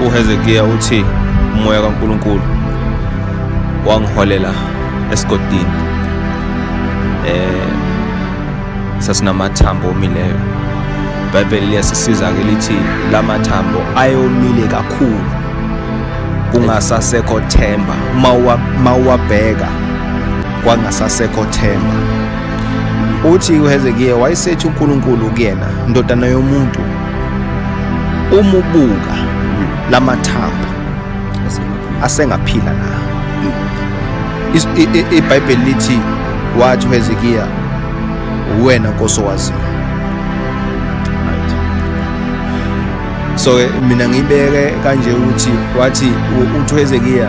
uHezekiya uthi umoya kaNkulunkulu wangiholela esigodini eh sasinamathambo omileyo ibhayibheli liyasisiza ke lithi la mathambo ayomile kakhulu kungasasekho themba uma uwabheka kwangasasekho themba Uthi uHezekiya wayesethi uNkulunkulu kuyena, ndodana yomuntu, umubuka lamathambo asengaphila na? IBhayibheli lithi wathi uHezekiya wena Nkosi owaziyo. So mina ngibeke kanje ukuthi wathi uThezekiya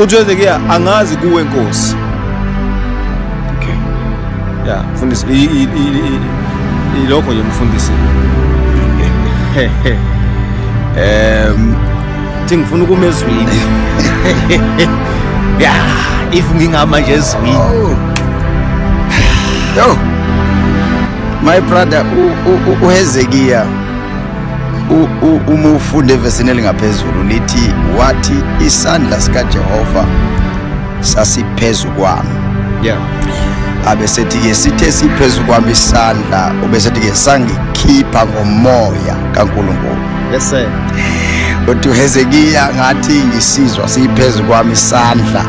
uthi wenzeke angazi kuwe nkosi okay ya mfundisi ilokho nje mfundisi um thi ngifuna ukuma ezwini ya if ngingama nje ezwini oh. yo my brother uhezekiya uma ufunde evesini elingaphezulu lithi wathi isandla sikajehova sasiphezu kwami yeah. abesethi-ke sithe siphezu kwami isandla ubesethi-ke sangikhipha ngomoya kankulunkulu yes, kodwa uhezekiya ngathi ngisizwa siyiphezu kwami isandla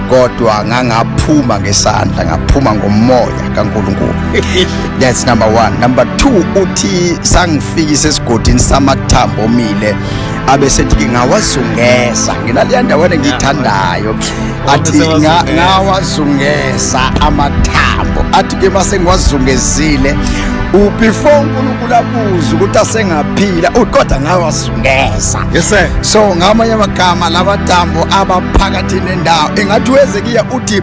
kodwa ngangaphuma ngesandla ngaphuma ngomoya kankulunkulu That's number one. Number two uthi sangifikisa esigodini samathambo omile abe sethi ngingawazungeza nginaleya ndawana engiyithandayo athi Wabese nga- wazungeza. ngawazungeza amathambo athi ke uma sengiwazungezile u- before unkulunkulu abuze ukuthi asengaphila uthi kodwa ngawazungeza Yes sir. so ngamanye amagama lamathambo abaphakathi nendawo engathi wezekiya uthi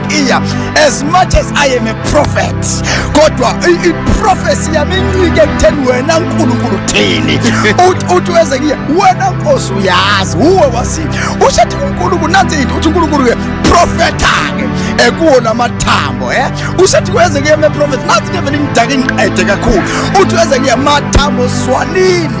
iya as much as i am a prophet kodwa iprofesi yami incike ekutheni wena nkulunkulu thini uthi weze kuye wena nkosi uyazi uwe wasi usho athi unkulunkulu nansi into uthi unkulunkulu-ke profetha-ke ekuwo la mathambo e usho athi kweze kuye meprofethi nansi ke vele ngidake ngiqede kakhulu uthi weze kuye mathambo swanini